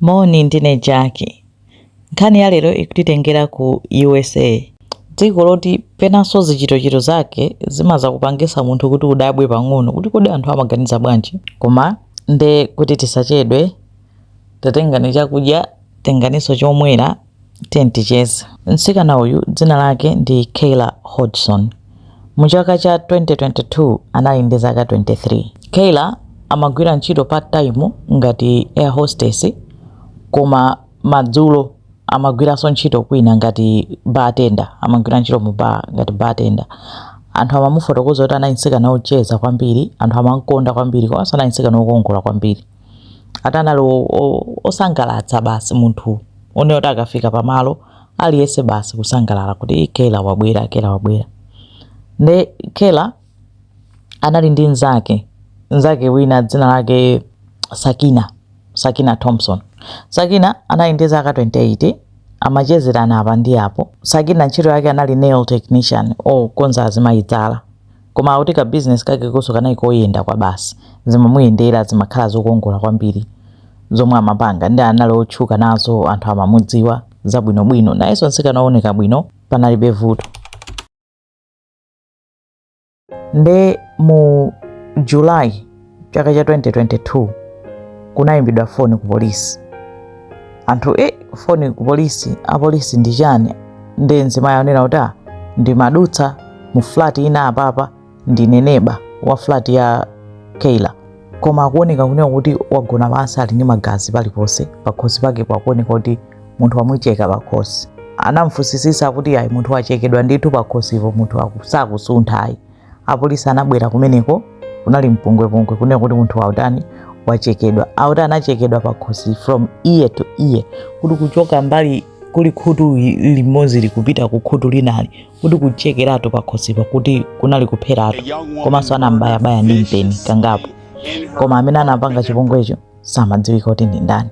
Moni, ndine Jaki. Nkhani ya lero ikutitengera ku USA, dziko loti penanso zichitochito zake zimaza kupangisa munthu kuti udabwe pang'ono kuti kodi anthu amaganiza bwanji. Koma nde kuti tisachedwe, tatengani chakudya, tenganiso chomwera. Tiyeni ticheze. Mtsikana uyu dzina lake ndi Kayla Hodgson. Mu chaka cha 2022 anali ndi zaka 23. Kayla amagwira ntchito part time ngati air hostess koma madzulo amagwiranso ntchito kwina ngati bartender, amagwira ntchito mu bar ngati bartender. Anthu amamufotokoza kuti anali mtsikana wocheza kwambiri, anthu amam'konda kwambiri komanso anali mtsikana wokongola kwambiri. ati anali o- o- osangalatsa basi munthu one oti akafika pamalo aliyense basi kusangalala kuti "Ih, Kayla wabwera Kayla wabwera nde Kayla anali ndi mnzake mnzake wina dzina lake Sakina Sakina Thompson Sakina anali ndi zaka 28 amachezerana apa ndi apo Sakina ntchito yake anali nail technician okonza azimayi zala Koma akuti ka business kakekonso kanali koyenda kwabasi. Zimamuyendera, zimakhala zokongola kwambiri zomwe amapanga. Nde anali otchuka nazo, anthu amamudziwa zabwinobwino. Nayenso mtsikana ooneka bwino, panalibe vuto. Nde mu July chaka cha 2022 kunayimbidwa foni ku polisi anthu e foni ku polisi apolisi ndi chani nde mzimayi anena kuti "Ah, ndimadutsa mu flat ina apapa ndine neba wa flat ya Kayla koma akuoneka kunena kuti wagona pansi ali ndi magazi paliponse pakhosi pake pakuoneka kuti munthu wamucheka pakhosi anamfusisisa kuti ayi munthu wachekedwa ndithu pakhosipo munthu aku- sakusuntha ayi apolisi anabwera kumeneko kunali mpungwepungwe kunena kuti munthu wautani wachekedwa akuti anachekedwa pakhosi from ear to ear kuti kuchoka mbali kuli khutu limodzili kupita ku khutu linali kuti kuchekeratu pakhosipa kuti kunali kupheratu komanso anambayabaya ndi mpeni kangapo koma amene anapanga chipongwecho samadziwika kuti ndi ndani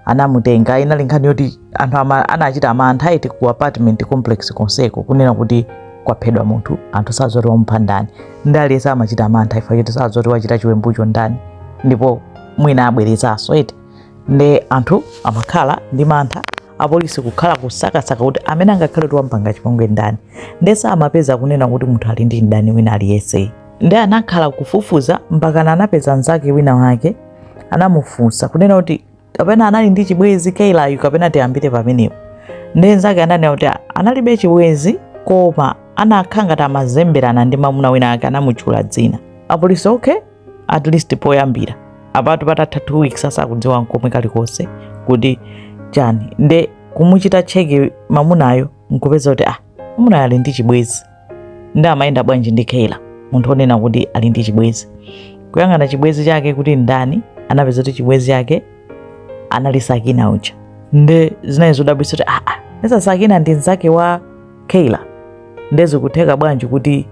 anamutenga inali nkhani yoti anthu ama, anachita mantha eti ku apartment complex konseko kunena kuti kwaphedwa munthu anthu sadziwa zoti wamupha ndani nde aliyese amachita mantha chifukwa choti sadziwa zoti wachita chiwembucho ndani ndipo mwina abwerezanso eti nde anthu amakhala ndi mantha apolisi kukhala kusakasaka kuti amene angakhale kuti wampanga chipongwe ndani nde samapeza kunena kuti munthu ali ndi mdani wina aliyese nde anakhala kufufuza mpakana anapeza mnzake wina wake anamufunsa kunena kuti kapena anali ndi chibwezi Kaylayu kapena tiyambire pamenepo. Nde nzake ananena kuti analibe chibwezi koma anakhala ngati amazemberana ndi mamuna wina ake anamutchula dzina. Apolisi okay at least poyambira apatu patatha two weeks asakudziwa nkomwe kalikonse kuti chani nde kumuchita cheki mamunayo nkupeza kuti ah Mamunayo ali ndi chibwezi nde amayenda bwanji ndi Kayla, munthu onena kuti ali ndi chibwezi. Kuyang'ana chibwezi chake kuti ndani, anapeza kuti chibwezi chake anali Sakina uja. Nde zinali zodabwitsa kuti aa, nesa Sakina ndi mzake wa Kayla. Nde zikutheka bwanji kuti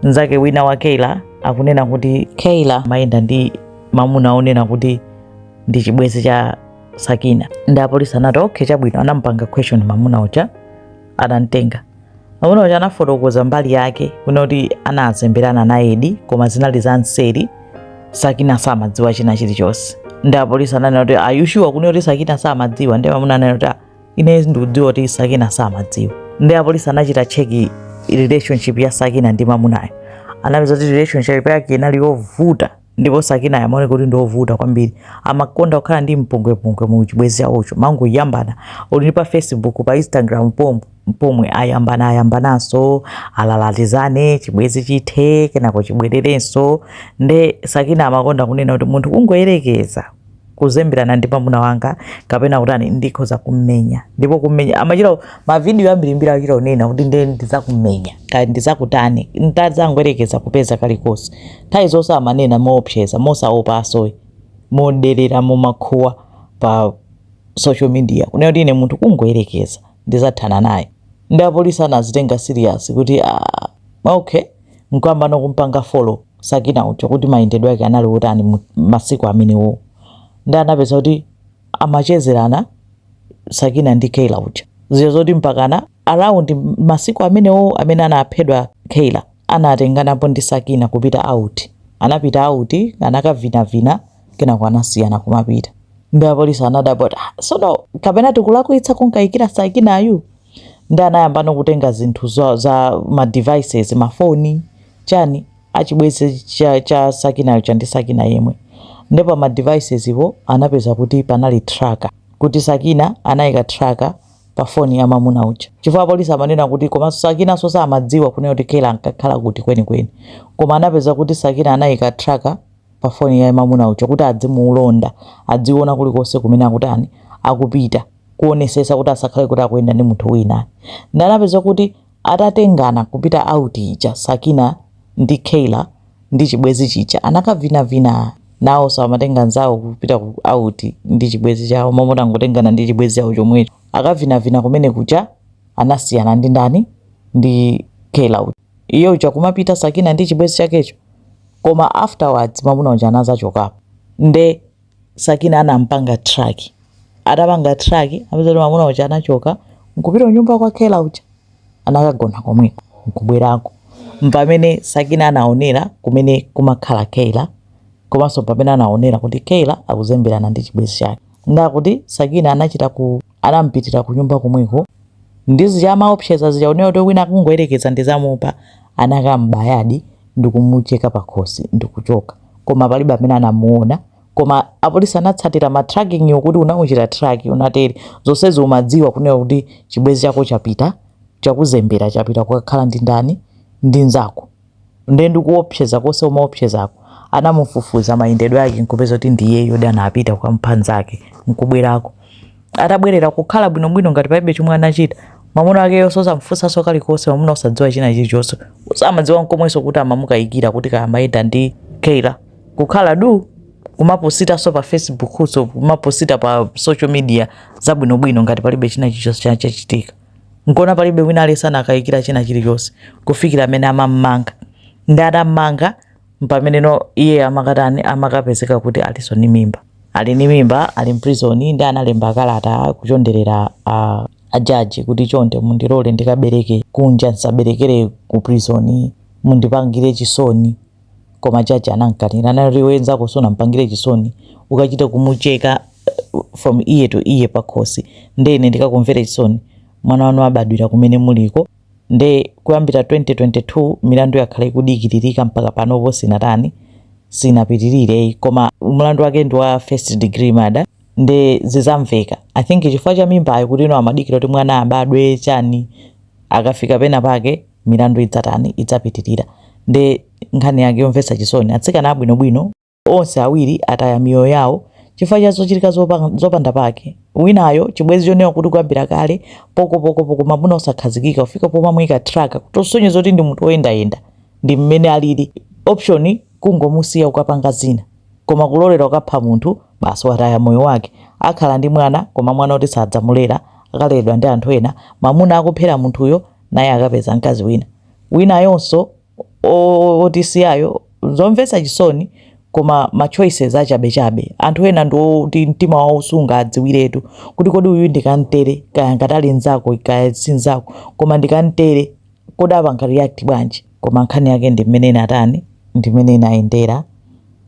mzake wina wa Kayla akunena kuti Kayla amayenda ndi mamuna onena kuti ndi chibwezi cha Sakina. Nde apolisi anati okay, chabwino, anamupanga question mamuna uja adamtenga mamuna uja anafotokoza mbali yake kunena kuti anazemberana nayedi koma zinali za nseri sakina samadziwa china chilichonse nde apolisi ananena kuti are you sure kunena kuti sakina samadziwa nde mamuna ananena kuti "Ah, ine ndikudziwa kuti sakina samadziwa nde apolisi anachita cheki relationship ya sakina ndi mamunayo anapeza kuti relationship yake inali yovuta ndipo sakinayo amaoneka kuti ndiovuta kwambiri amakonda kukhala ndi mpungwepungwe mu chibwezi chawocho amangoyambana olo ndi pa facebook pa instagram pomwe pomwe ayambana ayambananso alalatizane chibwezi chithe kenako chibwererenso nde sakinayo amakonda kunena kuti munthu kungoyerekeza kuzemberana ndi mwamuna wanga kapena kutani ndikhoza kummenya ndipo kummenya amachita mavidiyo ambirimbiri achita kunena kuti nde ndizakummenya kaya ndizakutani ntazangoyerekeza kupeza kalikonse nthawi zonse amanena moopseza mosaopa also moderera momakuwa pa social media kunena kuti ine munthu kungoyerekeza ndizathana naye nde apolisi anazitenga serious kuti ah, okay nkuyambano kumpanga follow sakina uja kuti mayendedwe ake anali otani mu- masiku amenewo nde anapeza kuti amachezerana sakina ndi kayla uja zija zoti mpakana around masiku amenewo amene anaphedwa kayla anatenganapo ndi sakina kupita out anapita out anakavinavina kenako anasiyana kumapita nde apolisi anadabwa kuti "Ah, sono kapena tikulakwitsa kunkayikira sakinayu nde anayambano kutenga zinthu za, za ma devices mafoni chani achibwezi cha, cha sakinayo chandi sakina yemwe nde pa ma devices awo anapeza kuti panali tracker kuti sakina anayika tracker pa foni ya mamuna uja chifukwa apolisi amanena kuti komanso sakina so samadziwa kunena kuti kayla ankakhala kuti kwenikweni koma anapeza kuti sakina anayika tracker pa foni ya mamuna uja kuti adzimulonda adziona kulikonse kumene akutani akupita kuonesesa kuti asakhale kuti akuyenda ndi munthu wina ndi anapeza kuti atatengana kupita out ija Sakina ndi Kayla ndi chibwezi chija anakavinavina nawo samatenga nzawo kupita ku out ndi chibwezi chawo mmangotengana ndi chibwezi chawo chomwecho akavinavina kumene kuja anasiyana ndi ndani ndi Kayla uja iye uja kumapita Sakina ndi chibwezi chakecho koma afterwards mamuna uja anazachokapo nde Sakina anampanga track. Atapanga track, apeza kuti mwamuna uja anachoka nkupita kunyumba kwa Kayla uja. Anakagona komweko nkubwerako. Mpamene Sakina anaonera kumene kumakhala Kayla komanso pamene anaonera kuti Kayla akuzemberana ndi chibwenzi chake. Nde akuti Sakina anachita ku Anampitira kunyumba komweko ndi zija amaopseza zija kunena kuti wina akungoyerekeza ndizamupha anakambayadi ndikumucheka pakhosi ndikuchoka koma palibe amene anamuona koma apolisi anatsatira ma tracking yokuti unamuchita track unatere zonsezi umadziwa kunena kuti chibwezi chako chapita chakuzembera chapita kukakhala ndi ndani ndi nzako nde ndikuopseza kose umaopseza anamufufuza mayendedwe ake nkupeza kuti ndi iyeyodi anapita kwa mphanzake nkubwerako atabwerera kukhala bwinobwino ngati palibe chomwe anachita mwamuna wake yonse osamfunsanso kalikonse mwamuna osadziwa china chilichonse samadziwa nkomwenso kuti amamukayikira kuti kaya amayenda ndi Kayla kukhala du kumapositanso pa facebook so kumaposita pa social media zabwinobwino ngati palibe china chilichonse chachitika nkona palibe wina aliyense anakayikira china chilichonse kufikira mmene amammanga ndi atammanga mpamene no iye amakatani amakapezeka kuti alinso ni mimba ali ni mimba ali mprisoni ndi analemba kalata kuchonderera a, a jaji kuti chonde mundilole ndikabereke kunja ndisaberekere ku prisoni mundipangire chisoni koma jaji anamkanira anati iwe nzako sunampangire chisoni ukachita kumucheka uh, from ear to ear pakhosi nde ine ndikakumvere chisoni mwana wanu abadwira kumene muliko nde kuyambira 2022 milandu yakhala ikudikiririka mpaka panopo sinatani sinapitirire koma mlandu wake ndi wa first degree murder nde zizamveka i think chifukwa cha mimbayo kuti amadikira kuti mwana abadwe chani akafika pena pake milandu idzatani, idzapitirira. Nde nkhani yake yomvetsa chisoni, atsikana abwinobwino onse awiri ataya miyoyo yawo chifukwa cha zochitika zopanda pake. Winayo chibwenzi choonekeratu kuti kuyambira kale pokopokopoko mamuna osakhazikika kufika pomamuyika tracker kutosonyeza kuti ndi munthu woyendayenda ndi mmene analili ndi option kungomusiya kukapanga zina koma kulolera kukapha munthu basi wataya moyo wake akhala ndi mwana koma mwana oti sadzamulera akaleredwa ndi anthu ena mamuna akuphera munthuyo naye akapeza mkazi wina winayonso o- otisiyayo zomvetsa chisoni koma ma choices achabechabe anthu ena ndiwoti mtima wawo sungaudziwiretu kuti kodi uyu ndikamtere kaya ngati ali mnzako kaya si mnzako koma ndikamtere kodi apanga react bwanji koma nkhani yake ndi mmene inatani ndi mmene inayendera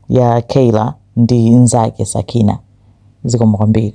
ya Kayla ndi nzake sakina zikomo kwambiri